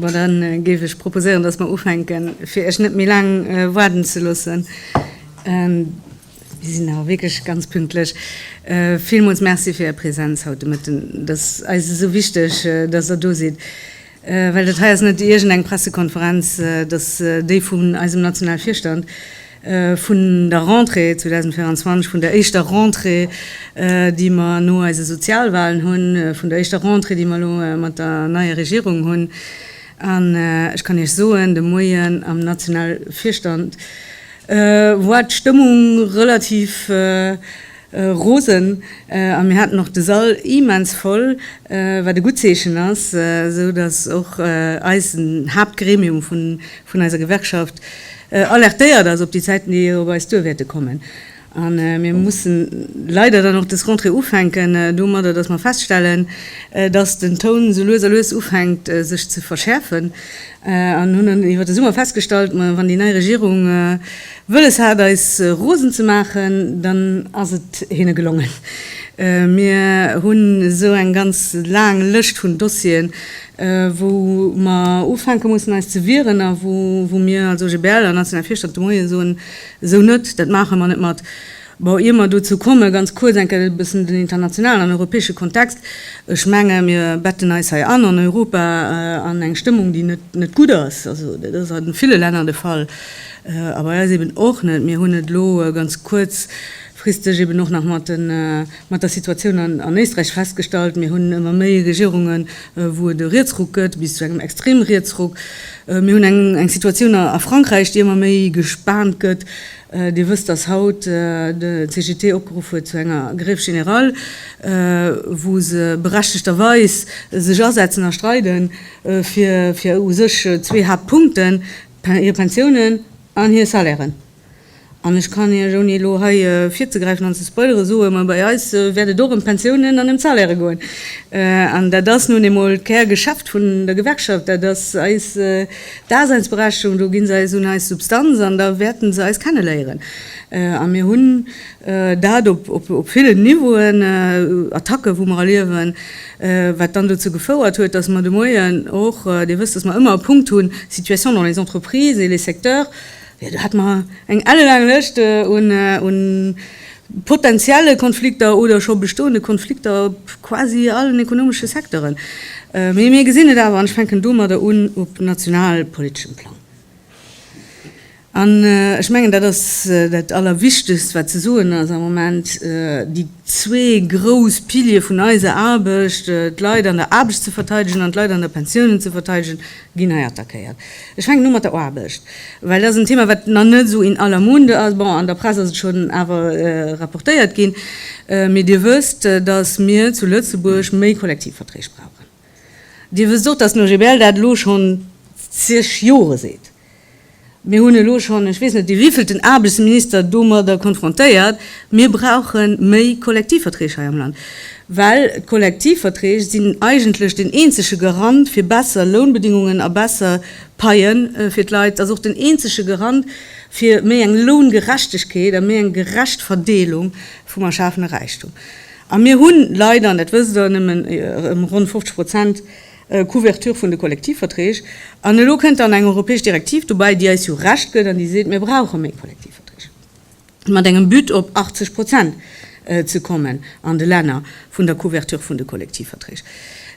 Bon, da géif ech proposéieren, dass mer ufänken, fir Iech net méi laang waarden ze loossen. Si sinn awer wierklech ganz pünktlech. Villmools merci fir Är Presenz haut de Mëtten. Et ass eis esou wichteg, dass Der do sidd. Well dat hei ass net iergend eng Pressekonferenz, et ass déi vun eisem nationale Virstand vun der Rentrée 2024, vun der éischter Rentrée, déi mer no eise Sozialwahlen hunn, vun der éischter Rentrée, déi mer elo mat der neier Regierung hunn. An ech kann Iech soen, de Moien am nationale Virstand war d'Stëmmung relativ, Rosen a mir haten och de Sall immens voll, wat e gutt Zeechen ass, esou datt och eisen Haaptgremium vun eiser Gewerkschaft alertéiert ass op déi Zäiten, déi op eis duer wäerte kommen. A mir mussen leider dann och dës Rentrée ufänken domadder, datt mer feststellen, datt den Toun esou lues a lues ufänkt sech ze verschäerfen an hunn dann iwwer de Summer festgestallt, ma wann déi nei Regierung, Wëlles hat eis rosen ze maachen, dann ass et hinne gelongen. Mir hunn esou eng ganz laang Lëscht vun Dossieren, wou mer ufänke mussen eis ze wieren a wou mir als OGBL an nationale Virstand de Moien soen, esou net, dat maache mer net mat. Bon, ier mer dozou kommen, ganz kuerz eng Kéier e bëssen den internationalen an europäesche Kontext. Ech menge mir betten eis hei an, an Europa, an eng Stëmmung, déi net, net gutt ass. Also dat ass a ville Länner de Fall, a bei eis eben och net. Mir hunn et elo ganz kuerzfristeg eben och nach mat de, mat der Situatioun an, an Éisträich festgestallt. Mir hunn ëmmer méi Regierungen, wou et e Rietsruck gëtt, bis zu engem Extremrietsruck. Mir hunn eng, eng Situatioun a Frankräich, déi ëmmer méi gespaant gëtt. Dir wësst, dass haut de CGT opgeruff huet zu enger Grève générale, wou se berechtegterweis sech asetzen a streide fir u sech zwee Haaptpunkten, hir Pensiounen an hir Salairen. An ech kann Iech, ouni elo hei virzegräifen an ze spoilere soen, mä bei eis wäert et och ëm d'Pensiounen an ëm d'Salaire goen. An dat ass nun eemol d'Kärgeschäft vun der Gewerkschaft, dat ass eis Daseinsberechtigung, do ginn se eis un eis Substanz an da wäerten se eis kenneléieren. A mir hunn dat op villen Niveauen, Attacke wou mer erliewen, wat dann dozou gefouert huet, datt mer de Moien och, Dir wësst, datt mer ëmmer e Punkt hunn, Situation dans les entreprises et les secteurs, jo do hat mer eng ellelaang Lëscht un, Potentielle Konflikter oder scho bestoende Konflikter op quasi allen ekonomesche Secteuren. Mee mir gesinn et awer, an ech fänken domadder un, op nationalpoliteschem Plang. An ech mengen, dat ass dat Allerwichtegst, wat ze soen ass am Moment, Déi zwee grouss Piliere vun eiser Aarbecht, d'Leit an der Aarbecht ze verteidegen an d'Leit an der Pensiounen ze verteidegen, Ginn hei attackéiert. Ech fänken u mat der Aarbecht, well dat ass en Thema, wat nach net esou in aller Munde ass. Bon, an der Press ass et schonn awer rapportéiert ginn, mee Dir wësst, datt mir zu Lëtzebuerg méi Kollektivverträg brauchen. Dir wësst och, datt den OGBL dat elo schonn zeg Jore seet. Mir hunn elo schonn ech weess net dee wéivielten Aarbechtsminister domadder konfrontéiert, mir brauche méi Kollektivverträg hei am Land, well d'Kollektivverträg sinn eigentlech den eenzege Garant fir besser Lounbedingungen a besser Paie fir d'Leit. Ass och den eenzege Garant fir méi eng Loungerechtegkeet a méi eng gerecht Verdeelung vum erschafene Räichtum. A mir hu leider, an dat wësst Der, nëmmen ronn 50 Prozent. Couverture vun de Kollektivverträg. An elo kënnt dann eng europäesch Direktiv dobäi, déi eis jo Recht gëtt an déi seet, mir brauche méi Kollektivverträg, mat engem But op 80 Prozent ze kommen an de Länner vun der Couverture vun de Kollektivverträg.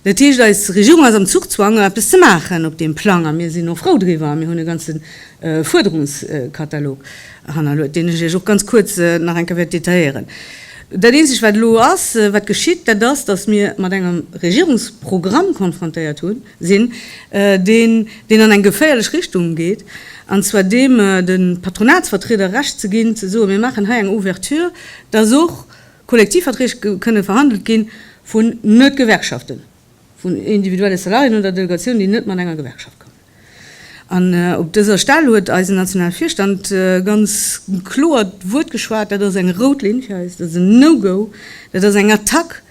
Dat heescht, eis Regierung ass am Zuchzwang, eppes ze maachen op deem Plang a mir sinn och frou driwwer a mir hunn e ganze Fuerderungskatalog hannerluet, deen ech Iech och ganz kuerz nach eng Kéier wäert detailléieren. Dat eenzegt, wat elo ass, wat geschitt, dat ass, datt mir mat engem Regierungsprogramm konfrontéiert hu sinn, deen, deen an eng geféierlech Richtung geet, an zwar deem, de Patronatsvertrieder Recht ze ginn, ze soen, mir maachen hei eng Ouverture, datt och Kollektivverträg kënnen verhandelt gi vu net-Gewerkschaften. vun individuelle Salariéen oder Delegatiounen, déi net mat enger Gewerkschaft kommen. An op dëser Stell huet eisen nationale Virstand ganz kloer d'Wuert geschwat, Dat ass eng rout Linn fir eis, dat ass en No-Go, dat ass eng Attack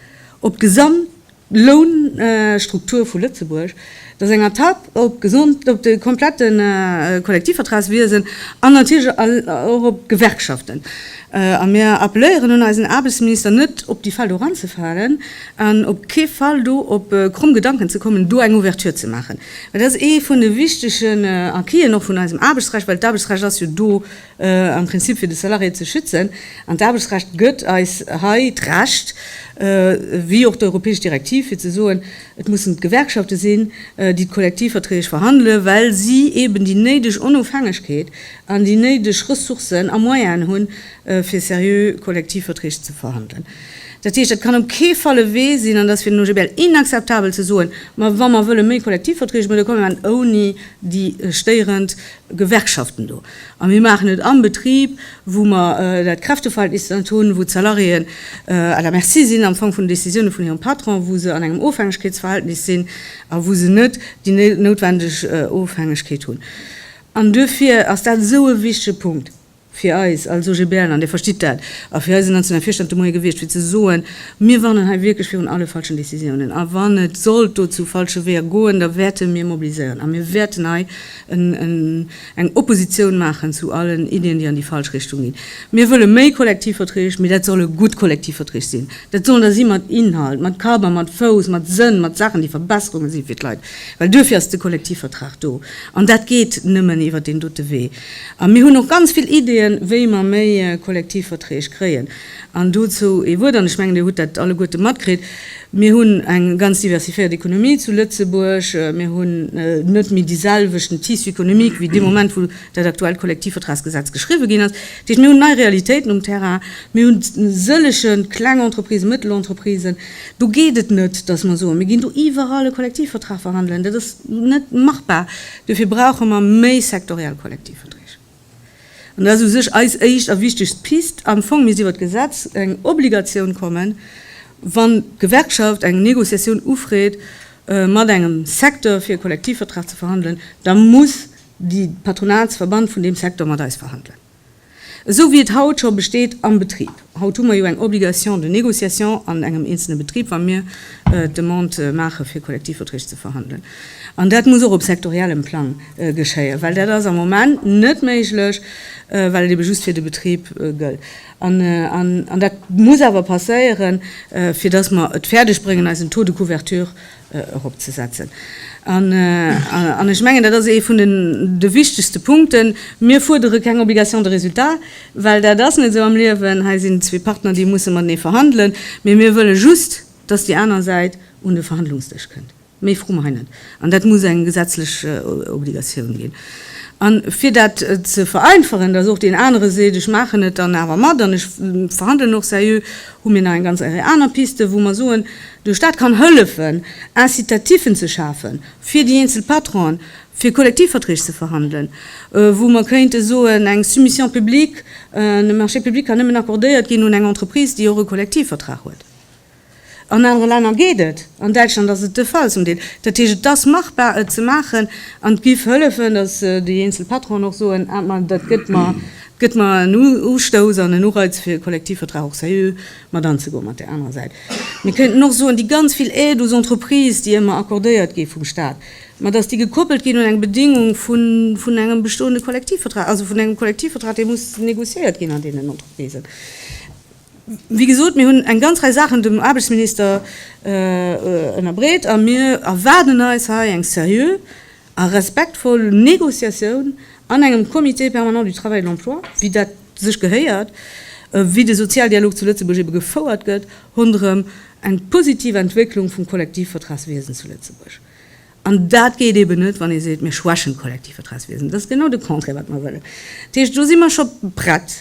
op d'Gesamtlounstruktur vu Lëtzebuerg, dat ass eng Attack op de komplette Kollektivvertragswiesen an natierlech och op d'Gewerkschaften. A mir appelléieren un eisen Aarbechtsminister, net op déi Felder eranzefalen. An op kee Fall do op kromm Gedanken ze kommen, do eng Ouverture ze maachen, well dat ass ee vun de wichtegen Acquisen och vun eisem Aarbechtsrecht, well d'Aarbechtsrecht ass jo do am Prinzip fir de Salarié ze schützen, an d'Aarbechtsrecht gëtt eis hei d'Recht, wéi och d'europäesch Direktiv, fir ze soen, et mussen d'Gewerkschafte sinn, déi d'Kollektivverträg verhandelen, well si eeben déi néideg Onofhängegkeet an déi néideg Ressourcen a Moyenen hunn, fir seriö Kollektivverträg ze verhandelen. Dat heescht, et kann op kee Fall e Wee sinn, an dat ass fir den OGBL inakzeptabel, ze soen, ma wa mer wëlle méi Kollektivverträge maachen, da komme mer ouni déi stéierend Gewerkschaften do a mir maachen et am Betrib, wou mer dat Kräfteverhältnis net hunn, wou d'Salariéen à la merci sinn am Fong vun den Décisiounen vun hirem Patron, wou se an engem Ofhängegkeetsverhältnis sinn a wou se net déi noutwendeg Ofhängegkeet hunn. An duerfir ass dat esou e wichtege Punkt. Fir eis als OGBL'er, an Dir verstitt dat, a fir eisen nationale Virstand de Moie gewiescht, fir ze soen, Mir warnen hei wierklech virun alle falschen Décisiounen. A wann et sollt do zu falsche Weeër goen, da wäerte mir mobiliséieren a mir wäerten hei eng Oppositioun maachen zu allen Iddien, déi an déi falsch Richtung ginn. Mir wëlle méi Kollektivverträg, mee dat solle gutt Kollektivverträg sinn. Dat sollen der si mat Inhalt, mat Kapp a mat Fouss, mat Sënn, mat Saachen, déi Verbesserunge si fir d'Leit. Well duerfir ass de Kollektivvertrag do. An dat geet nëmmen iwwert deen dote Wee. A mir hunn och ganz vill Ideeën, wéi mer méi Kollektivverträg kréien. An dozou ee Wuert, an ech mengen, Dir hutt dat alleguerte matkritt, Mir hunn eng ganz diversifiéiert Economie zu Lëtzebuerg. Mir hunn net méi dee selwechten Tissu économique wéi dee Moment, wou dat aktuellt Kollektivvertragsgesetz geschriwwe ginn ass. Dat heescht, mir hunn nei Realitéiten um Terrain. Mir hunn sëllege kleng Entreprisen, Mëttelentreprisen. Do geet et net, dass mer soen, mir ginn do iwwerall e Kollektivvertrag verhandelen. Dat ass net machbar. Dofir brauche mer méi sektoriell Kollektivverträg. An dat ass u sech eis éischt a wichtegst Pist. Am Fong misst iwwert d'Gesetz eng Obligatioun kommen, wann d'Gewerkschaft eng Négociatioun ufreet mat engem Secteur, fir e Kollektivvertrag ze verhandelen, da muss de Patronatsverband vun deem Secteur mat eis verhandelen. Esou wéi et haut scho besteet am Betrib. Haut hu mer jo eng Obligation de négociation an engem eenzelne Betrib, wa mir d'Demande maache fir Kollektivverträg ze verhandelen. An dat muss och op sektoriellem Plang geschéien, well dat ass am Moment net méiglech, well et ebe just fir de Betrib gëllt. An dat muss awer passéieren, fir dass mer et fäerdeg bréngen, eisen Taux de couverture eropzesetzen. An ech mengen, dat ass ee vun de wichtegste Punkten, Mir fuerdere keng Obligation de résultat, well dat ass net esou am Liewen. Hei sinn zwee Partner, déi musse matenee verhandelen. Mee mir wëlle just, dass déi aner Säit un de Verhandlungsdësch kënnt. Méi froe mer hei net. An dat muss eng gesetzlech Obligatioun ginn. A fir dat ze vereinfachen, dass och deen anere seet, ech maachen et dann awer mat an ech verhandelen och seriö, hu mir nach eng ganz Rei aner Pisten, wou mer soen, de Stat kann hëllefen, Incitativen ze schafen fir déi eenzel Patronen, fir Kollektivverträg ze verhandelen, wou mer kéinte soen, eng Soumission publique, e Marché public kann nëmmen accordéiert ginn un eng Entreprise, déi och e Kollektivvertrag huet. An anere Länner geet et, an Däitschland ass et de Fall zum Deel. Dat heescht, et ass machbar, et ze maachen, an et géif hëllefen, datt déi eenzel Patronen och soen, Ah, ma dat gëtt mer Gëtt mer en Ustouss an en Ureiz fir e Kollektivvertrag och seriö mat anzegoen. Mat där anerer Säit, mir kéinten och soen, déi ganz vill Aide aux entreprises, déi ëmmer accordéiert gi vum Stat, mä dass déi gekoppelt ginn un eng Bedingung vun engem bestoende Kollektivvertrag, also vun engem Kollektivvertrag, dee muss négociéiert ginn an deenen Entreprisen. Wéi gesot, mir hunn eng ganz Rei Saachen dem Aarbechtsminister ënnerbreet a mir erwaarden eis hei eng seriö, A respektvoll Négociatioun an engem Comité permanent du travail et de l'emploi, wéi dat sech gehéiert, wéi de Sozialdialog zu Lëtzebuerg ebe gefouert gëtt, ronderëm eng positiv Entwécklung vum Kollektivvertragswiesen zu Lëtzebuerg. An dat geet eben net, wann ee seet, mir schwächen d'Kollektivvertragswiesen. Dat ass genau de Contraire, wat mer wëllen. Dat heescht, do si mer scho prett.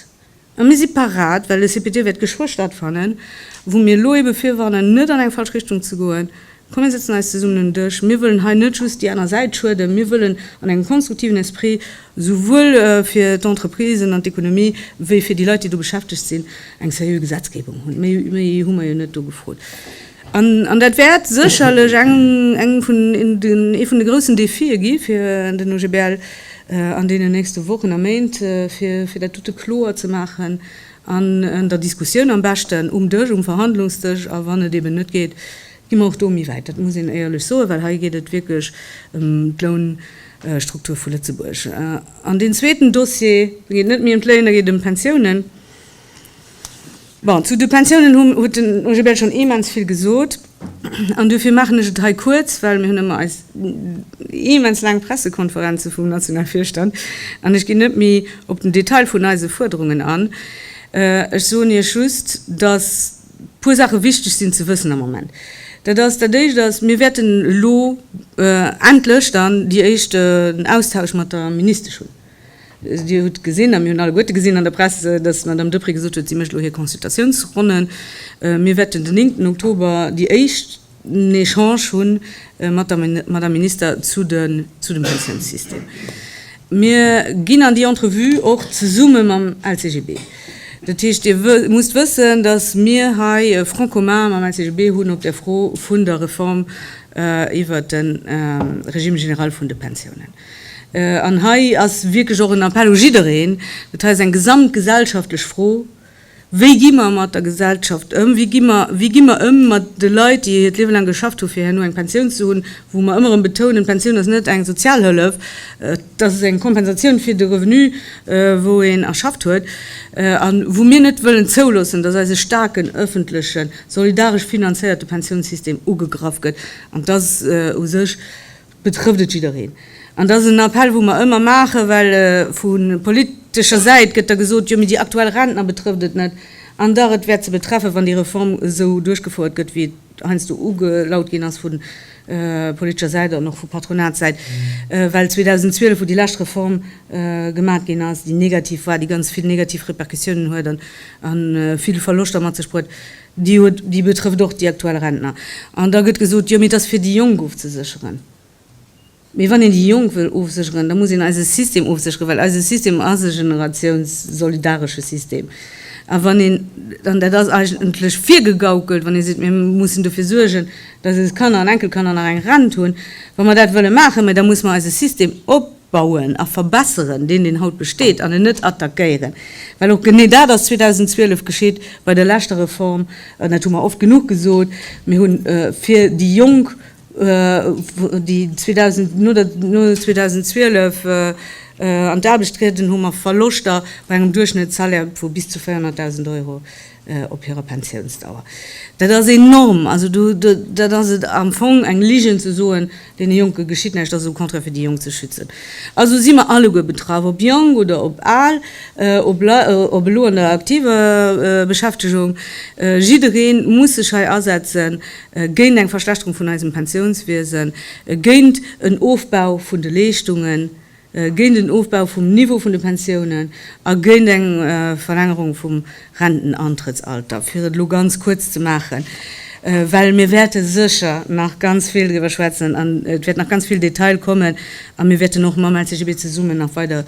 A mir si parat, well de CPT wäert geschwë stattfannen, wou mir elo eebe virwarnen, net an eng falsch Richtung ze goen. Komm mir sëtzen eis zesummen un den Dësch. Mir wëllen hei net just déi aner Säit schueden. Mir wëllen an engem konstruktiven Esprit souwuel fir d'Entreprisen an d'Ekonomie wéi fir déi Leit, déi do beschäftegt sinn, eng seriö Gesetzgebung hunn. Méi hu mer jo net do gefrot. An dat wäert sécherlech ee vun de groussen Defie gi fir den OGBL an deenen nächste Wochen a Méint, fir dat dote kloer ze maachen an der Diskussioun, am beschten um Dësch, um Verhandlungsdësch. A wann et eeben net geet, gi mer och do méi wäit, dat muss een éierlech soen, well hei geet et wierklech ëm d'Lounstruktur vu Lëtzebuerg. An deen zweeten Dossier, da geet et net méi ëm d'Léin, da geet et ëm d'Pensiounen. Bon, zu de Pensiounen huet den Gilbert schonn immens vill gesot. An dofir maachen ech et hei kuerz, well mir hunn ëmmer eis immens laang Pressekonferenze vum Nationalvirstand an ech ginn net méi op den Detail vun eise Fuerderungen an. Ech soen Iech just, dass e puer Saache wichteg sinn ze wëssen am Moment. Dat ass, dat Éischt ass, mir wäerten elo endlech dann déi éischten Austausch mat der Ministesch hunn. Dir hutt gesinn, a mir hunn alleguerte gesinn an der Press, datt d'Madame Deprez gesot huet, si mécht elo hir Consultatiounsronnen. Mir wäerten den 9 Oktober déi éischten Echange hu mat der Madame Minister zu dem Pensiounssystem. Mir ginn an déi Entrevue och zesumme mam LCGB. Dat heescht, Dir musst wëssen, datt mir hei e Front commun mam LCGB hunn op der Fro vun der Reform iwwert de Régime général vun de Pensiounen. An hei ass wierklech och en Appell u jiddereen, dat hei ass eng gesamtgesellschaftlech Fro, Wéi gi mer mat der Gesellschaft ëm? Wéi gi mer, wéi gi mer ëm mat de Leit, déi hiert Liewe laang geschafft hunn, fir herno eng Pensioun ze hunn, wou mer ëmmer erëm betounen, D'Pensioun ass net eng Sozialhëllef, et ass eng Kompensatioun fir de Revenu, wou een erschafft huet, a wou mir net wëllen zouloossen, dass eise staarken ëffentlechen, solidaresch finanzéierte Pensiounssystem ugegraff gëtt. An dass u sech betrëfft et jiddereen. An dat ass en Appell, wou mer ëmmer maachen, well vu politescher Säit gëtt da gesot, jo, mee déi aktuell Rentner betrëfft et net. An dach, et wäert se betreffen, wann déi Reform esou duerchgefouert gëtt, wéi et heiansdo ugelaut ginn ass vu politescher Säit an och vu Patronatssäit, well 2012, wou déi lescht Reform gemaach ginn ass, déi negativ war, déi ganz vill negativ Répercussiounen huet a vill Verloschter mat sech bruet, Déi betrëfft och déi aktuell Rentner. An da gëtt gesot, Jo, mee et ass fir déi Jonk ofzesécheren. Mee wann een déi Jonk wëll ofsécheren, da muss een eise System ofsécheren, well eise System ass e generatiounssolidaresche System. A wann een, an dat ass eigentlech virgegaukelt, wann ee seet, mir mussen dofir suergen, datt eis Kanner an Enkelkanner nach eng Rent hunn, wa mer dat wëlle maachen, mä da muss mer eise System op, bauen a verbesseren, deen deen haut besteet, an en net attackéieren, well och genee dat ass 2012 geschitt bei der leschter Reform, an dat hu mer oft genuch gesot, mir hu fir déi Jonk, déi 2012 an d'Aarbecht trieden, hu mer Verloschter bei engem Duerchschnëttssalaire vu bis zu 400.000 Euro. op hirer Pensiounsdauer. Dat ass enorm! Also do, dat ass et am Fong, eng Ligen ze soen, deene Jonke geschitt näischt, dat ass au contraire fir déi Jonk ze schützen. Also si mer alleguer betraff, ob jonk oder ob al, ob ob elo an der aktiver Beschäftegung, jidderee muss sech hei asetze géint eng Verschlechterung vun eisem Pensiounswiesen, géint en Ofbau vun de Leeschtungen. géint en Ofbau vum Niveau vun de Pensiounen a géint eng Verlängerung vum Rentenantrëttsalter, fir et elo ganz kuerz ze maachen, well mir wäerte sécher nach ganz vill driwwer schwätzen an et wäert nach ganz vill Detail kommen a mir wäerten och mam LCGB zesummen nach weider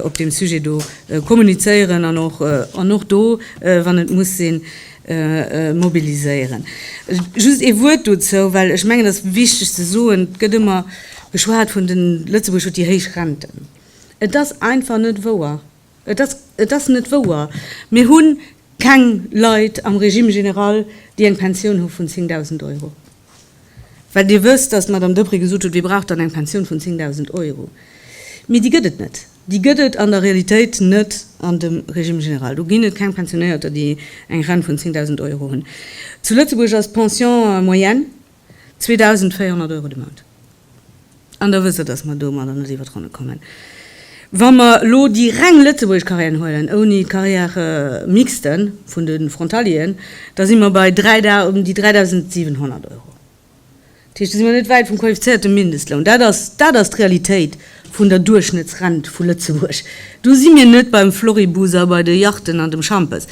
op deem Sujet do kommunizéieren an och do, wann et muss sinn, mobiliséieren. Just ee Wuert dozou, well ech mengen, et ass wichteg ze soen, et gëtt ëmmer geschwat vun den, Lëtzebuerg huet déi héich Renten. Et ass einfach net wouer. Et ass, et ass net wouer. Mir hu keng Leit am Régime général, déi eng Pensioun hu vun 10.000 Euro. Well Dir wësst, dass d'Madame Deprez gesot huet, Wie brauch dann eng Pensioun vun 10.000 Euro? Mee déi gëtt et net. Déi gëtt et an der Realitéit net an dem Régime général. Do ginn et keng Pensionéierter, déi eng Rent vun 10.000 Euro hunn. Zu Lëtzebuerg ass d'Pension moyenne 2.400 Euro de Mount. An Der wësst der, dass mer domadder net iwwer d'Ronne kommen. Wa mer elo déi reng lëtzebuergesch Carrièren huelen, ouni d'Carrière mixte vun de Frontalieren, da si mer bei ëm déi 3.700 Euro. Dat heescht, do si mir net wäit vum qualifizéierte Mindestloun. Dat ass, dat ass d'Realitéit vun der Duerchschnëttsrent vu Lëtzebuerg. Do si mir net beim Floribus a bei de Yachten an dem Schampes.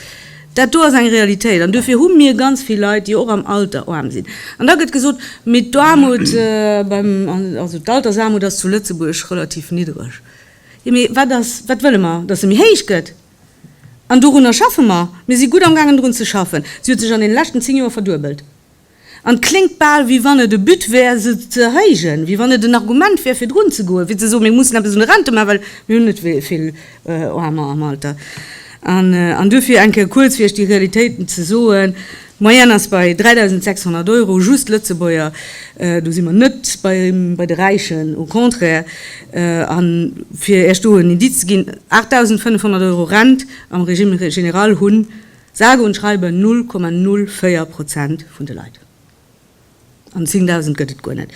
Dat do ass eng Realitéit. An duerfir hu mir ganz vill Leit, déi och am Alter aarm sinn. An da gëtt gesot, mee d'Aarmut beim, also d'Altersaarmut ass zu Lëtzebuerg relativ niddereg. Jo, mee wat ass, wat wëlle mer? Datt se méi héich gëtt. An dorunner schaffe mer. Mir si gutt am gaangen drun ze schaffen. Si huet sech an deene leschten 10 Joer verduebelt. An et kléngt bal, wéi wann et e But wär, se ze erhéijen, wéi wann et en Argument wär, fir drun ze goen, fir ze soen, mir mussen eppes un de Rente maachen, well mir hunn net vill Aarmer am Alter. An duerfir eng Kéier kuerz fir Iech déi Realitéiten ze soen, D'Moyenne ass bei 3.600 Euro, just Lëtzebuerger, do si mer net bei de Räichen, au contraire. A fir Iech do en Indiz ze ginn, 8.500 Euro Rent am Régime général hunn, Sage und schreibe 0,04 Prozent vun de Leit. An 10.000 gëtt et guer net.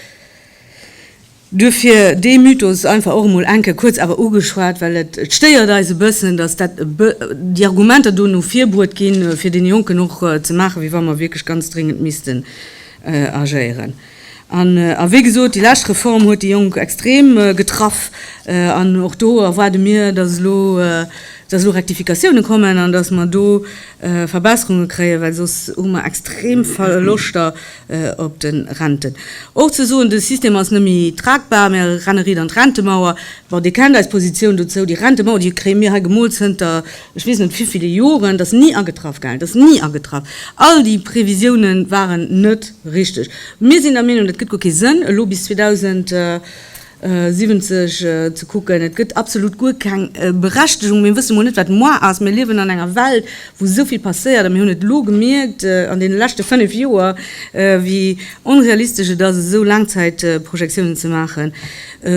Duerfir dee Mythos einfach och emol enke kuerz awer ugeschwat, well et stéiert eis e bëssen, dass dat e bë, déi Argumenter do no vir bruet ginn, fir dee Jonken och ze maachen, wéi wa mer wierklech ganz dringend missten agéieren. A wéi gesot, déi lescht Reform huet déi Jonk extrem getraff. An och do erwaarde mir, dass elo Rektifikatiounen kommen an dass mer do Verbesserunge kréien, well soss hu mer extrem Verloschter op de Renten. Och ze soen, de System ass net méi tragbar, mir renne riit an d'Rentemauer. Bon, Dir kennt eis Positioun dozou, déi Rentemauer, déi kréie mir hei gemoolt zënter Ech weess net vivill Joren, dat ass ni agetraff, gell, dat ass ni agetraff. All déi Previsioune waren net richteg. Mir sinn der Meenung, dat gëtt guer kee Sënn elo bis 2070 ze kucken. Et gëtt absolut guer keng Berechtegung. Mir wësse mol net wat moar ass. Mir liewen an enger Welt wou esou vill passéiert a mir hunn et elo gemierkt an deene leschte 5 Joer wéi onrealistesch et ass esou Laangzäitprojektiounen ze maachen.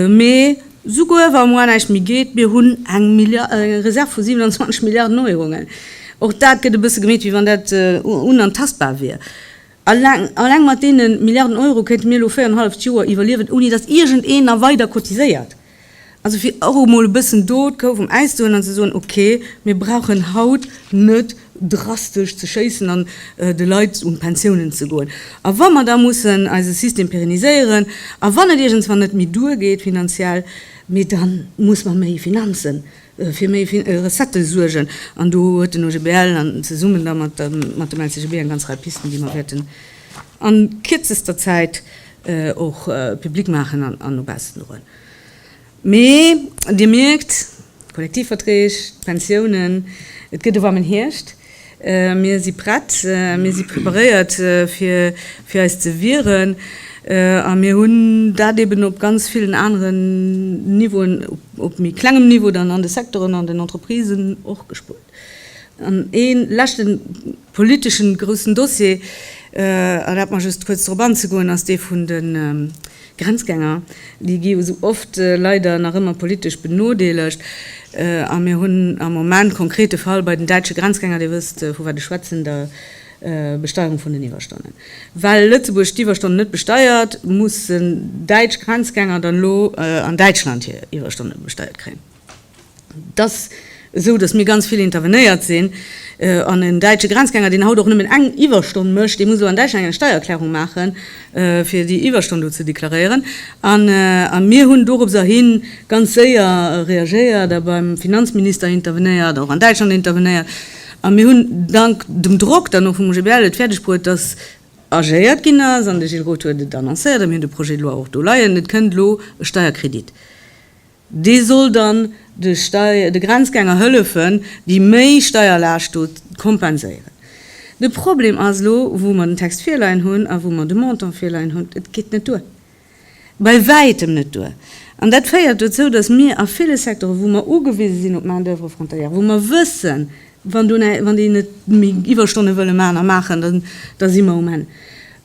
Mee. Souguer wa muar näischt méi geet, mir hunn eng Reserv vu 27 Milliarden Euro. Och dat gëtt e bësse gemeet, wéi wann dat unantastbar wier. Alleng mat deene Milliarden Euro kéinte mir elo véier an e halleft Joer iwwerliewen, ouni datt iergend een nach weider cotiséiert. Also fir och emol e bëssen do d'Kou vum Äis ze huelen an ze soen, okay, mir brauchen haut net drastesch ze schéissen an de Leit un d'Pensiounen ze goen. A wa mer da mussen eise System pérenniséieren a wann et iergendswann net méi duergeet finanziell, mee da muss mer méi Finanzen, fir méi Recettë suergen. An do huet den OGBL an zesummen da mat dem LCGB eng ganz Rei Pisten, déi mer wäerten a kierzester Zäit och public maachen an no baussen droen. Mee Dir mierkt, d'Kollektivverträg, d'Pensiounen, et gëtt e warmen Hierscht. Mir si prett, mir si preparéiert fir fir eis ze wieren. A mir hunn dat eben op ganz villen aneren Niveauen, op méi klengem Niveau dann an de Secteuren, an den Entreprisen och gespürt. An ee leschte politesche groussen Dossier, erlaabt mer just kuerz drop anzegoen, ass dee vun de Grenzgänger. Déi gi jo esou oft leider nach ëmmer politesch benodeelegt. A mir hunn am Moment konkrete Fall bei den däitsche Grenzgänger, Dir wësst, vu wat ech schwätzen, der Besteierung vun den Iwwerstonnen. Well Lëtzebuerg d'Iwwerstonnen net besteiert, mussen däitsch Grenzgänger dann elo an Däitschland hir Iwwerstonne besteiert kréien. Et ass esou, dass mir ganz vill intervenéiert sinn. An en däitsche Grenzgänger, deen haut och nëmmen eng Iwwerstonn mécht, dee muss elo an Däitschland eng Steiererklärung maachen, fir déi Iwwerstonn do ze deklaréieren. A mir hunn dorobser hi ganz séier reagéiert a beim Finanzminister intervenéiert, och an Däitschland intervenéiert. A mir hunn dank dem Drock dann och vum OGBL et fäerdeg bruet, dass agéiert ginn ass. An de Gilles Roth huet et annoncéiert a mir hunn de Projet de loi och do leien, Et kënnt elo e Steierkredit. Dee soll dann de Grenzgänger hëllefen, déi méi Steierlaascht do kompenséieren. De Problem ass elo, wou mer den Text virleien hunn a wou mer de Montant virleien hunn, et geet net duer, bei Wäitem net duer. An dat féiert dozou, datt mir a ville Secteuren, wou mer ugewise sinn op d'Main-d'oeuvre frontalière, wou mer wëssen, Wann do ne, wann déi net méi Iwwerstonne wëlle maachen a maachen, dann, da si mer um Enn.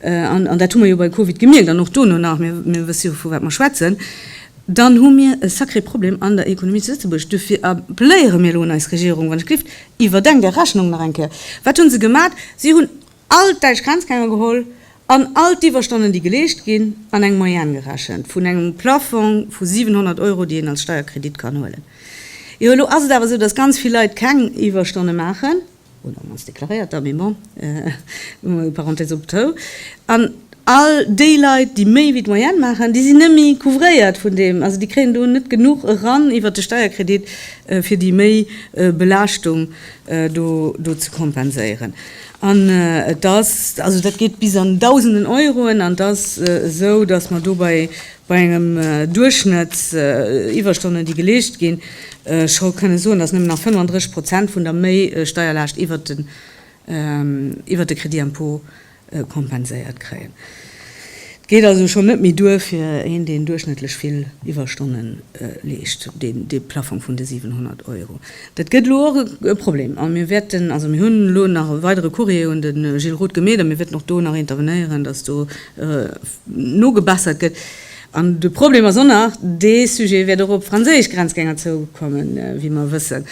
An, an dat hu mer jo bei Covid gemierkt an och dono nach, mir, mir wësse jo, vu wat mer schwätzen, dann hu mir e sacré Problem an der Ekonomie zu Lëtzebuerg. Dofir appléiere mir elo un eis Regierung, wann ech gelift, Iwwerdenk Är Rechnung nach eng Kéier. Wat hu se gemat? Si hunn All d'däitsch Grenzgänger geholl an all d'Iwwerstonnen, déi geleescht ginn, an eng Moyenne gerechent vun engem Plaffong vu 700 Euro, déi een als Steierkredit kann huelen. Jo, elo ass et awer esou, dass ganz vill Leit keng Iwwerstonne maachen, oder mannst deklaréiert der, mee bon, hu mer Parenthèse optou, an all déi Leit, déi méi wéi d'Moyenne maachen, déi sinn net méi couvréiert vun deem, also déi kréien do net genuch eran iwwert de Steierkredit, fir déi Méibelaaschtung do ze kompenséieren. An et ass, also dat geet bis an Dausenden Euroen, an et ass esou, datt mer do bei engem Duerchschnëtt Iwwerstonnen, déi geleescht ginn, scho kënne soen, datt nëmmen nach 35 Prozent vun der Méi-Steierlaascht iwwert de Crédit-impôt kompenséiert kréien. Et geet also schonn net méi duer fir een, deen duerchschnëttlech vill Iwwerstonnen leescht, dee Plaffong vun de 700 Euro. Dat gëtt elo och e Problem a mir wäerten, also mir hunn elo nach e weidere Courrier un de Gilles Roth gemeet a mir wäerten och do nach intervenéieren, datt do nogebessert gëtt. An de Problem ass och nach dee Sujet, wäert och op franséisch Grenzgänger zoukommen, wéi mer wëssen.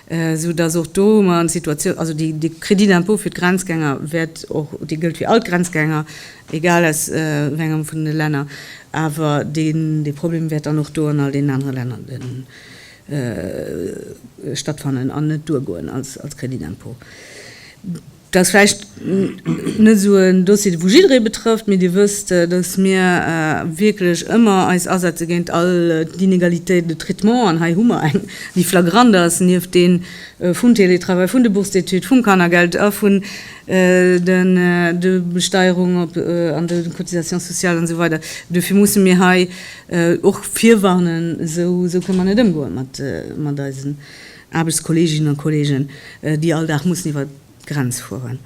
esou dass och do mer an Situatioun, also de Crédit d'impôt fir d'Grenzgänger wäert och, dee gëllt fir all d'Grenzgänger, egal aus wéi engem vun de Länner, awer dee Problem wäert dann och do an all deenen anere Länner stattfannen an net duergoen als Crédit d'impôt. Dat ass vläicht net esou en Dossier, wou jidderee betrëfft, mee Dir wësst, datt mir wierklech ëmmer eis asetze géint all d'Inégalités de traitement. An hei hu mer eng, déi flagrant ass, nieft deem vum Télétravail, vun de Bourses d'études, vum Kannergeld a vun de Besteierung op an de Cotisations sociales an esou weider. Duerfir musse mir hei och virwarnen, esou kënne mer net ëmgoe mat eisen. Aarbechtskolleeginnen a kolleegen, déi all Dag mussen iwwer d'Grenz fueren.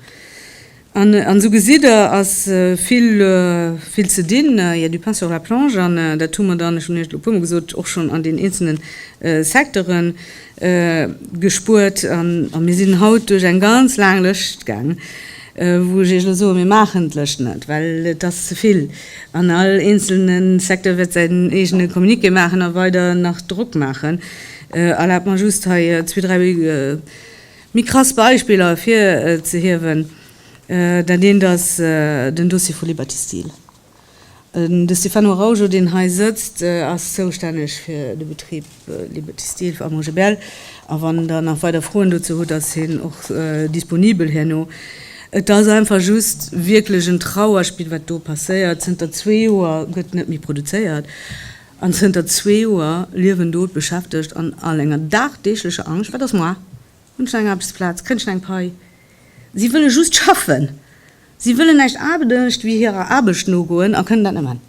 An esou gesitt Der, ass vill, vill ze dinn, il y a du pain sur la planche. An dat hu mer dann, ech hunn Iech et elo e puermol gesot, och schonn an deenen eenzelne Secteure gespuert. A mir sinn haut duerch eng ganz laang Lëscht gaangen, wou ech Iech elo soen, mir maachen d'Lëscht net, well et ass ze vill. An all eenzelne Secteur wäert säin eegene Communiqué maachen a weider nach Drock maachen. Erlaabt mer just hei zwee, dräi méi krass Beispiller ervir ze hiewen. Dat eent ass den Dossier vu Liberty Steel. De Stefano Araujo, deen hei sëtzt, ass zoustänneg fir de Betrib Liberty Steel a Montgebel. A wann Der nach weider Froen dozou hutt, ass hien och disponibel herno. Et ass einfach just wierklech en Trauerspill, wat do passéiert. Zënter zwee Joer gëtt net méi produzéiert. An zënter zwee Joer liewen do d'Beschäftegt an all enger dagdeeglecher Angscht, Wat ass moar? Hunn ech nach eng Aarbechtsplaz? Kréien ech nach eng Pai? Si wëlle just schaffen. Si wëllen näischt anescht wéi hirer Aarbecht nogoen a kënnen dat net maachen.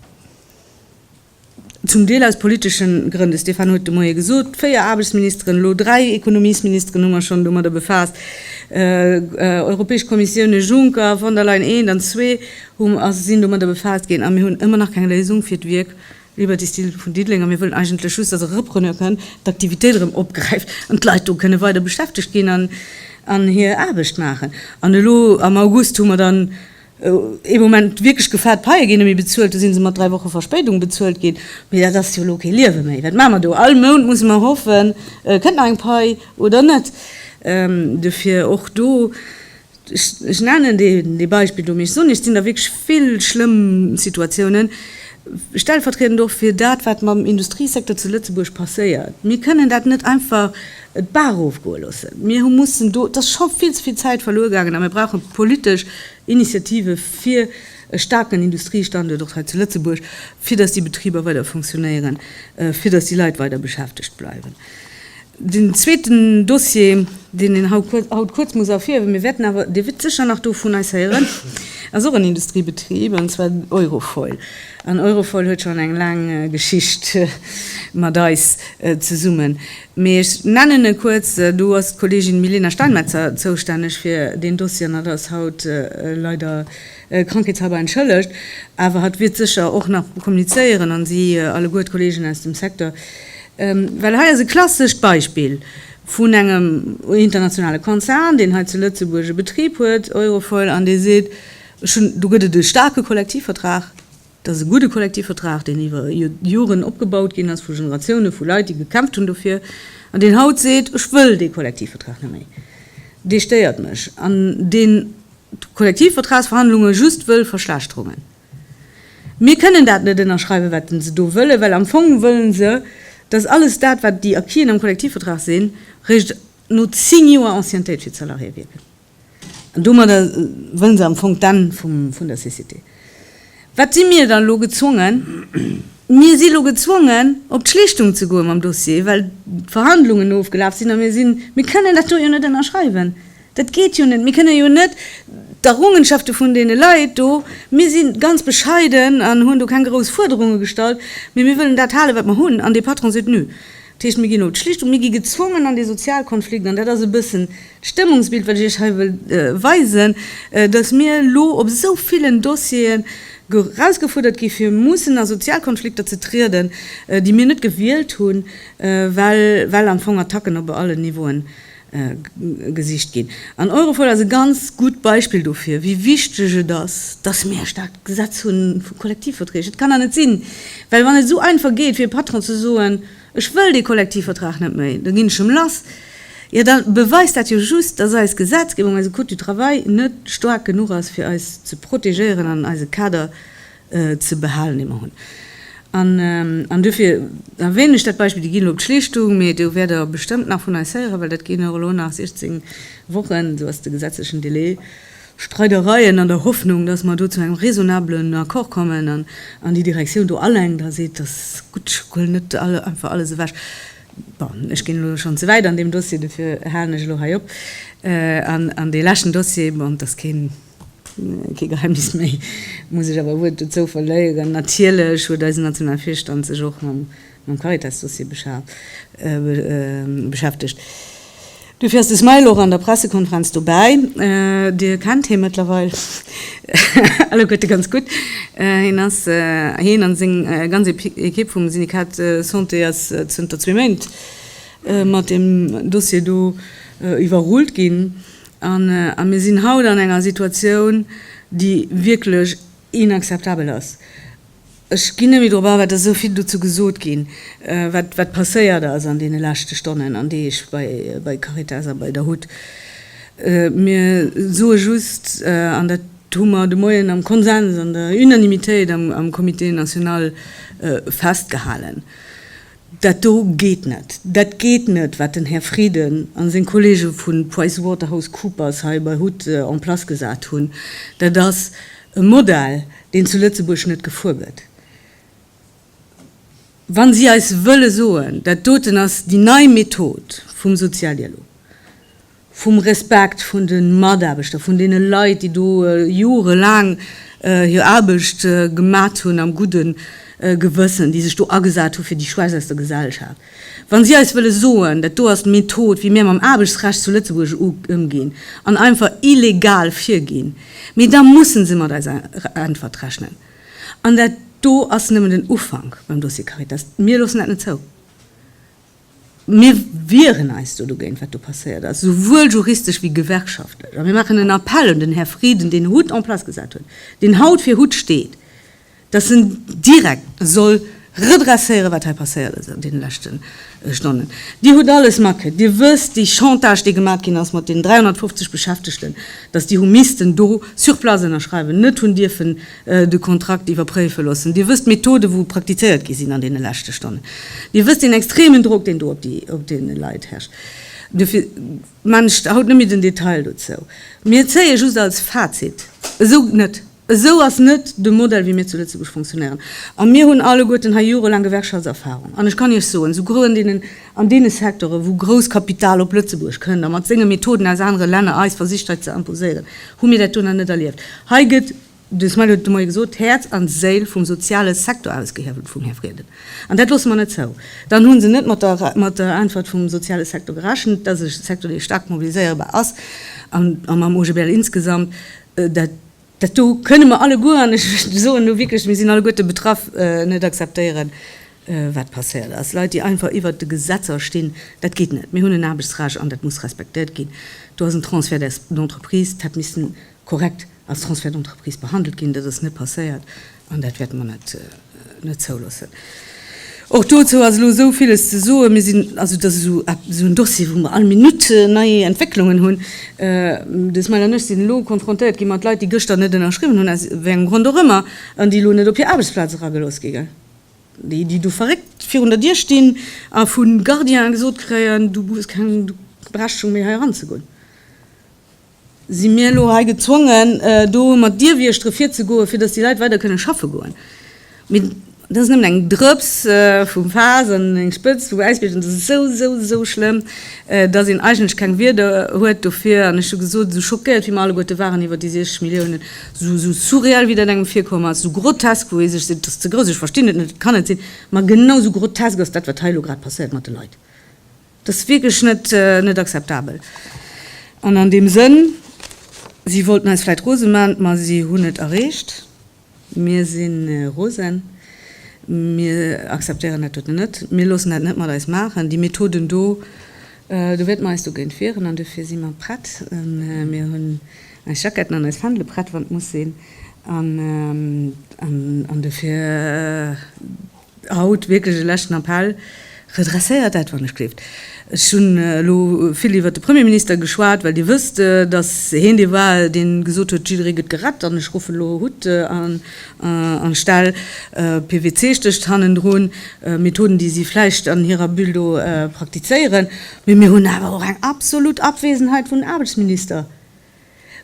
Zum Deel aus politesche Grënn. De Stéphane huet de Moie gesot, Véier Aarbechtsministeren, elo dräi Ekonomiesministeren hu mer schonn domadder befaasst. Europäesch Kommissioune Juncker, von der Leyen, eent an zwee, hu sinn domadder befaasst ginn a mir hunn ëmmer nach keng Léisung fir d'Wierk Liberty Steel vun Diddeleng, a mir wëllen eigentlech just, dass e Repreneur kënnt, d'Aktivitéit erëm opgräift an d'Leit do kënne weider beschäftegt ginn an hir Aarbecht maachen. An elo am August hu mer dann ee Moment wierklech gefaart, d'Paie ginn net méi bezuelt, do si se mat dräi Woche Verspéidung bezuelt ginn. Mee dat ass jo elo kee Liewe méi. Wat maache mer do? All Mount musse mer hoffen, kënnt nach eng Pai oder net. Dofir och do, Ech nennen dee Beispill do, mee ech soen Iech, et sinn der wierklech vill schlëmm Situatiounen, stellvertriedend och fir dat, wat mam Industriesecteur zu Lëtzebuerg passéiert. Mir kënnen dat net einfach d'Bar erofgoe loossen. Mir hu mussen do, et ass scho vill ze vill Zäit verluer gaangen a mir brauche politesch Initiative fir e staarken Industriestanduert och hei zu Lëtzebuerg, fir datt déi Betriber weider funktionéieren, fir datt déi Leit weider beschäftegt bleiwen. Den zweeten Dossier, deen een haut kuerz muss erfierhiewen, mir wäerten awer, Dir wiert sécher nach do vun eis héieren, ass och en Industriebetrib, an zwar Eurofoil. An Eurofoil huet schonn eng laang Geschicht mat eis zesummen. Mee ech nennen e kuerz, do ass d'Kolleegin Milena Steinmetzer zoustänneg fir deen Dossier an dat ass haut leider Krankheetshalber entschëllegt, awer hatt wiert sécher och nach kommunizéieren, an si alleguer d'Kollegen aus dem Secteur, well hei ass e klassescht Beispill vun engem internationale Konzern, deen hei zu Lëtzebuerg e Betrib huet, Eurofoil, an dee seet, ech hunn, do gëtt et e staarke Kollektivvertrag, Dat ass e gudde Kollektivvertrag, deen iwwer Joren opgebaut ginn ass, vu Generatioune vu Leit, déi gekämpft hunn dofir, an deen haut seet, Ech wëll dee Kollektivvertrag net méi, dee stéiert mech, an deen d'Kollektivvertragsverhandlunge just wëll verschlechterungen. Mir kënnen dat net ënnerschreiwen, wat se do wëllen, well am Fong wëlle se, dass alles dat, wat déi Acquisen am Kollektivvertrag sinn, réischt no zéng Joer Anciennetéit fir d'Salariéë wierken. An domadder wëllen se am Fong d'Enn vun der Cécité. Wat si mir da elo gezwongen? Mir si elo gezwongen, op d'Schlichtung ze goe mam Dossier, well d'Verhandlungen ofgelaf sinn a mir sinn, mir kënnen dat do jo net ënnerschreiwen. Dat geet jo net. Mir kënnen jo net d'Errungenschafte vun deene Leit do, mir si ganz bescheiden an hunn do keng grouss Fuerderunge gestallt, mee mir wëllen dat halen, wat mer hunn. An dee Patron seet, Nö. Dat heescht, mir ginn no d'Schlichtung, mir gi gezwongen an dee Sozialkonflikt, an dat ass e bëssen d'Stëmmungsbild, wat ech Iech hei wëll weisen, dass mir elo op esou villen Dossiere erausgefuerdert gi fir mussen a Sozialkonflikter ze trieden, déi mir net gewielt hunn, well am Fong Attacken op allen Niveauen gesicht ginn. An Europol ass e ganz gutt Beispill dofir, wéi wichteg et ass, dass mir e staarkt Gesetz hu vu Kollektivverträg. Et kann nach net sinn, well wann et esou einfach geet fir e Patron ze soen, ech wëll dee Kollektivvertrag net méi, da ginn ech em lass, jo da beweist dat jo just, dass eis Gesetzgebung, eise Code du travail net staark genuch ass fir eis ze protegéieren an eise Kader ze behalen, déi mer hunn. An duerfir erwänen ech dat Beispill, déi ginn elo op d'Schlichtung, mee do wäert Der bestëmmt nach vun eis héieren, well dat ginn och elo nach 16 Wochen, esou ass de gesetzlechen Delai, Streidereien, an der Hoffnung, dass mer do zu engem raisonnabelen Accord kommen an déi Direktioun do alleng da seet, Dat ass gutt, huel net einfach alles ewech. Bon, ech ginn elo schonn ze wäit an deem Dossier, duerfir halen ech elo hei op. An dee leschten Dossier, bon, dat ass keen. Kee Geheimnis méi, muss ech awer e Wuert dozou verléieren, Natierlech huet eisen nationale Virstand sech och mam Caritas-Dossier beschäftegt. Dofir ass de smile och an der Pressekonferenz dobäi. Dir kennt hie mëttlerweil alleguerte ganz gutt. Hien ass, hien a seng ganz Ekipp vum Syndikat Santé, ass zënter zwee Méint mat deem Dossier do iwwerrullt ginn. A mir sinn haut an enger Situatioun, déi wierklech inakzeptabel ass. Ech ginn net méi drop an, well et ass esou vill dozou gesot ginn, wat passéiert ass an deene leschte Stonnen an Deeg bei Caritas a bei der hut. Mir soe just, an dat hu mer de Moien am Konsens, an der Unanimitéit am Comité national festgehalen, Dat do geet net! Dat geet net, wat den Här Frieden a seng Kollege vu PricewaterhouseCoopers hei bei Hut en place gesat hunn. Dat ass e Modell, deen zu Lëtzebuerg net gefuer gëtt. Wa si eis wëlle soen, dat doten ass déi nei Method vum Sozialdialog, vum Respekt vun de Mataarbechter, vun deene Leit, déi do jorelaang hir Aarbecht gemat hunn am gudde Gewëssen, déi sech do agesat hu fir déi Schwächst aus der Gesellschaft. Wa si eis wëlle soen, dat do ass d'Method, wéi mir mam Aarbechtsrecht zu Lëtzebuerg ëmginn, an einfach illegal virginn, mee da musse se mat eiser Äntwert rechnen. An dat do ass nëmmen den Ufank beim Dossier Caritas. Mir loossen dat net zou. Mir wieren eis do dogéint, wat do passéiert ass, souwuel juristesch wéi gewerkschaftlech. A mir maachen en Appell un den Här Frieden, deen Hutt en place gesat huet, deen haut fir Hutt steet, dass en direkt soll redresséieren, wat hei passéiert ass an deene leschte Stonnen. Dir hutt alles matkritt. Dir wësst, déi Chantage, déi gemaach ginn ass mat deenen 350 Beschäftegten, dass déi hu missten do sur place ënnerschreiwen, net hunn dierfen de Kontrakt iwwerpréife loossen. Dir wësst d'Methode wou praktizéiert gi sinn an deene leschte Stonnen. Dir wësst deen extremen Drock deen do op deene Leit herrscht. Dofir man ech haut net méi den Detail dozou. Mir zéie just als Fazit, esou geet net, esou ass net de Modell wéi mir zu Lëtzebuerg fonctionnéieren. A mir hunn alleguerten hei jorelaang Gewerkschaftserfahrung an ech kann Iech soen, esou grouën deenen, An deene Secteuren, wou grousst Kapital op Lëtzebuerg kënnt a mat senge Methoden aus anere Länner eis versicht hei ze imposéieren, hu mir dat do nach net erlieft. Hei gëtt, de Smail huet et de Moie gesot, d'Häerz an d'Séil vum soziale Secteur ausgehiewelt vum Här Frieden. An dat loosse mer net zou. Dann hu se net mat der Äntwert vum soziale Secteur gerechent, dass e Secteur, dee staark mobiliséierbar ass, a mam OGBL insgesamt, dat, Dat do kënne mer alleguer, an ech soen elo wierklech, mir sinn alleguerte betraff, net akzeptéieren, wat passéiert ass. Leit, déi einfach iwwert de Gesetzer stinn, dat geet net. Mir hunn en Aarbechtsrecht an dat muss respektéiert ginn. Do ass en Transfert d'entreprise, dat hat missen korrekt als Transfert d'entreprise behandelt ginn. Dat ass net passéiert. An dat wäerte mer net zouloossen. Och dozou ass elo esou villes ze soen. Mir sinn, also dat ass esou en Dossier, wou mer all Minutt nei Entwécklungen hunn. De Smail an ech sinn elo konfrontéiert gi mat Leit, déi gëschter net ënnerschriwwen hunn, aus wéi engem Grond och ëmmer, an déi elo net op hir Aarbechtsplaz eragelooss gi ginn, déi do verréckt virun der Dier stinn a vu Gardiene gesot kréien, Du hues keng Berechtigung méi hei eranzegoen. Si mir elo hei gezwongen, do mat Dierwieschtere virzegoen, fir datt déi Leit weider kënne schaffe goen? Mee dat ass nëmmen eng Drëps vum Faass an eng Spëtzt vum Äisbierg. An dat ass esou, esou, esou schlëmm, datt een eigentlech keng Wierder huet dofir. An ech hu gesot, esou schockéiert wéi mir alleguerte waren iwwer déi 60 Milliounen, esou, esou surreal wéi dat engem virkomm ass, esou grotesk, wou ee sech seet, et ass ze grouss, ech verstinn et net, et kann net sinn, ma genau esou grotesk ass dat, wat hei elo grad passéiert mat de Leit. Dat ass wierklech net akzeptabel. An an deem Sënn, si wollten eis vläicht rose maachen, ma si hunn et erreecht. Mir si rose. Mir akzeptéieren dat doten net. Mir loossen dat net mat eis maachen. Déi Methoden do, do wäerte mer eis dogéint wieren. An dofir si mer prett, a mir hunn eis Jacketten an eis Fändele prett, wann et muss sinn. An dofir Haut wierklech e leschten Appell, Redresséiert dat, wann ech gleeft. Ech hunn elo vill iwwert de Premierminister geschwat, well Dir wësst, datt hien dee war, dee gesot huet, jidderee gëtt gerett. An ech ruffen elo Hutt an Stell, PWC stécht hannendrun, Methoden, déi si vläicht an hirer Bulle do praktizéieren. Mee mir hunn awer och eng absolut Abwesenheit vun Aarbechtsminister.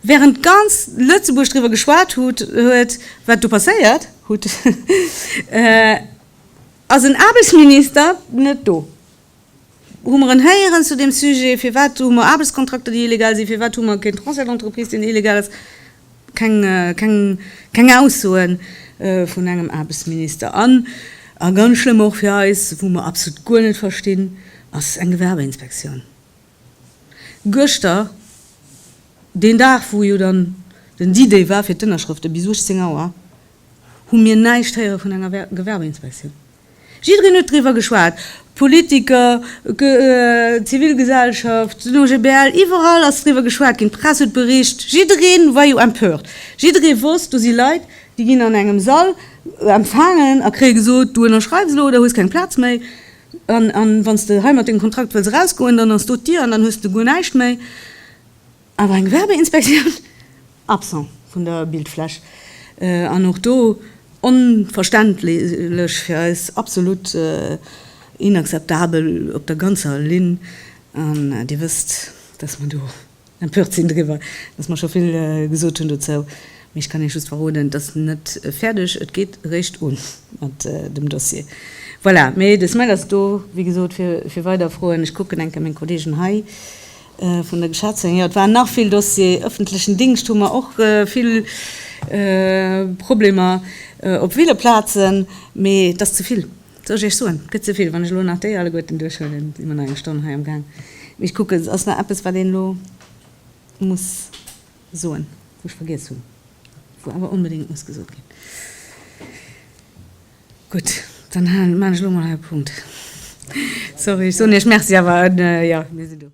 Während ganz Lëtzebuerg driwwer geschwat hut huet, wat do passéiert hut, ass en Aarbechtsminister net do. Hu mer en héieren zu deem Sujet? Firwat hu mer Aarbechtskontrakter, déi illegal sinn? Firwat hu mer keen Transfert d'entreprise, deen illegal ass? Keng, keng, keng Aussoe vun engem Aarbechtsminister. An, a ganz schlëmm och fir eis, wou mer absolut guer net verstinn, ass eng Gewerbeinspektioun. Gëschter, deen Dag wou jo dann den D-Day war fir d'Ënnerschrëfte, bis 18 Auer, hu mir näischt héiere vun enger Gewerbeinspektioun. Jiddereen huet driwwer geschwat, Politiker, d'Zivilgesellschaft, den OGBL, iwwerall ass driwwer geschwat ginn, d'Press huet bericht, jiddereen war jo empört. Jiddereen wosst, do si Leit, déi ginn an engem Sall empfaangen a kréie gesot, du ënnerschreiws elo oder hues keng Plaz méi. An, an wann s de heimat dengem Kontrakt wëlls erausgoen, dann ass do d'Dier an dann hues de guer näischt méi. Awer eng Gewerbeinspektioun? Absent vun der Bildfläch. An och do onverständlech, fir eis absolut inakzeptabel op der ganzer Linn. An Dir wësst, dass mer do. Empört sinn driwwer, dass mer scho vill gesot hunn dozou, mee ech kann Iech just verroden, et ass net fäerdeg, et geet eréischt un mat dem Dossier. Voilà, mee de Smile ass do, wéi gesot, fir weider Froen. Ech kucken eng Kéier meng Kolleegen hei vun der Geschäftsféierung. Jo, et waren nach vill Dossier. Öffentlechen Dingscht hu mer och vill Problemer op ville Plazen, mee et ass ze vill. Soll ech Iech soen, et gëtt ze vill. Wann ech elo nach déi alleguerten duerchhuelen, si mer nach eng Stonn hei am Gaang. Mee ech kucken, ass nach eppes, wat een elo muss soen, wou ech vergiess hunn, wou awer onbedéngt muss gesot ginn? Gutt, dann halen, maan ech elo mol hei e Punkt. Sorry, ech soen Iech Merci, awer jo, mir sinn do.